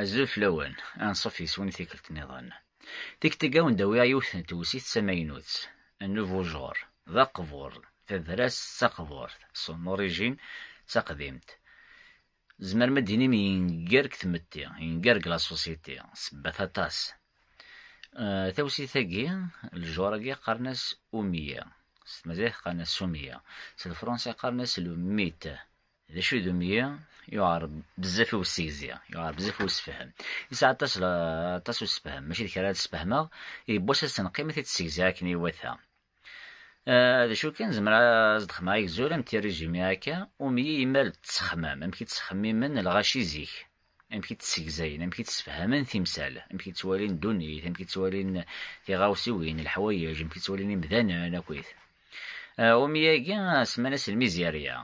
Azul fell-awen, anṣuf yes-wen i tikkelt nniḍen. Tikktegga wen d-awiɣ yiwet n tewsit d tamaynut, un nouveau genre, d aqbur, tadras d taqburt, son origine, d taqdimt. Tzemrem ad d-tinim yenger deg tmetti, yenger deg la société, sebbat aṭas. Tawsit-agi, le genre-agi qqaren-as Oumie, s tmaziɣt qqaren-as Soumia, s lefransa qqaren-as le mythe. D acu i d umyi? Yuɛer bezzaf i ussegzi, yuɛer bezzaf i ussefhem. Yesɛa aṭas, aṭas ussefhem, mačči d kra ara d-sfehmeɣ, yewwas ad s-tenqim ad t-id-ssegziɣ akken iwata. D acu kan, zemreɣ ad s-d-xedmeɣ agzul, un petit résumé akka, umyi imal d ttexmam, amek i ttxemmimen lɣaci zik. amek i d-ssegzayen, amek i d-ssefhamen timsal, amek i d-ttwalin ddunit, amek i d-ttwalin tiɣawsiwin, leḥwayeǧ, amek i d-ttwalin imdanen akkit. Umi-agi semman-as lmizirya.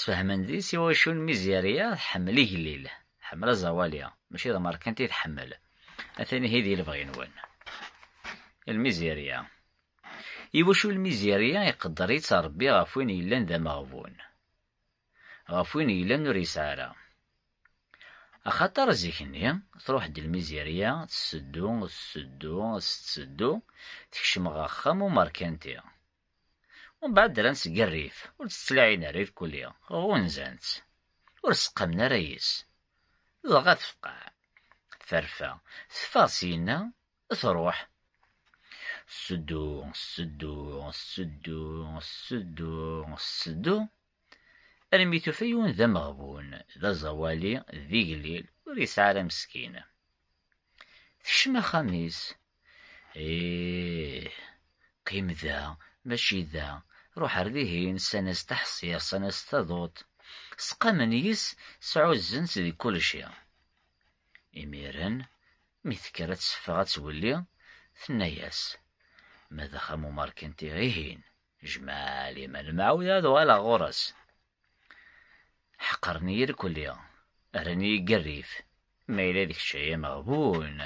Sfehmen deg-s iwacu lmizirya tḥemmel igellil, tḥemmel aẓawali, mačči d amerkanti i tḥemmel. Atan ihi di lebɣi-nwen. Lmizirya. Iwacu lmizirya iqedder-itt Ṛebbi ɣef win yellan d ameɣbun? ɣef win yellan ur yesɛi ara. Axaṭer zik-nni, truḥ-d lmizirya, tesseddu, tesseddu, tetteddu, tekcem ɣer axxam n umerkanti. Umbeɛd rran-tt seg rrif, ur tt-ttlaɛin ara irkelli, ɣunzan-tt, ur seqqamen ara yis. Dɣa tefqeɛ, terfa, teffeɣ syenna, truḥ. Seddu, seddu, seddu, seddu, seddu, armi tufa yiwen d ameɣbun, d aẓawali, d igellil, ur yesɛi ara meskin. Tekcem axxam-is. Ih, qim da, mačči da, ruḥ ar dihin, ssan-as taḥsirt, ssan-as taduṭ, seqqamen yes, sɛuzzen-tt di kulci. Imiren, Mi tekker ad teffeɣ ad twelli, tenna-yas, Ma d axxam umerkanti, ihin, jmeɛ liman mɛud ad uɣaleɣ ɣur-s. Ḥeqren-iyi irkelli, rran-iyi deg rrif. Ma yella d kečč ay ameɣbun,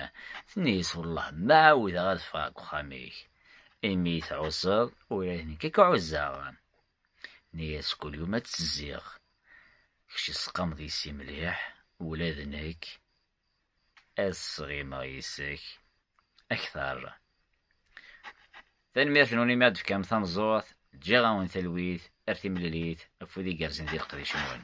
tenna-yas, Wellah ma ɛawdeɣ ad ffɣeɣ deg uxxam-ik. Imi i tɛuzzeḍ, ula d nekk ad k-ɛuzzeɣ. Tenna-yas, Kul yum ad ttezziɣ. Kečč tesqameḍ yess-i mliḥ, ula d nekk. Ad sɣimeɣ yis-k akter. Tanemmirt-nwen imi ad d-tefkam tameẓẓuɣt, ǧǧiɣ-awen talwit ar timlilit, afud igerrzen di leqdic-nwen.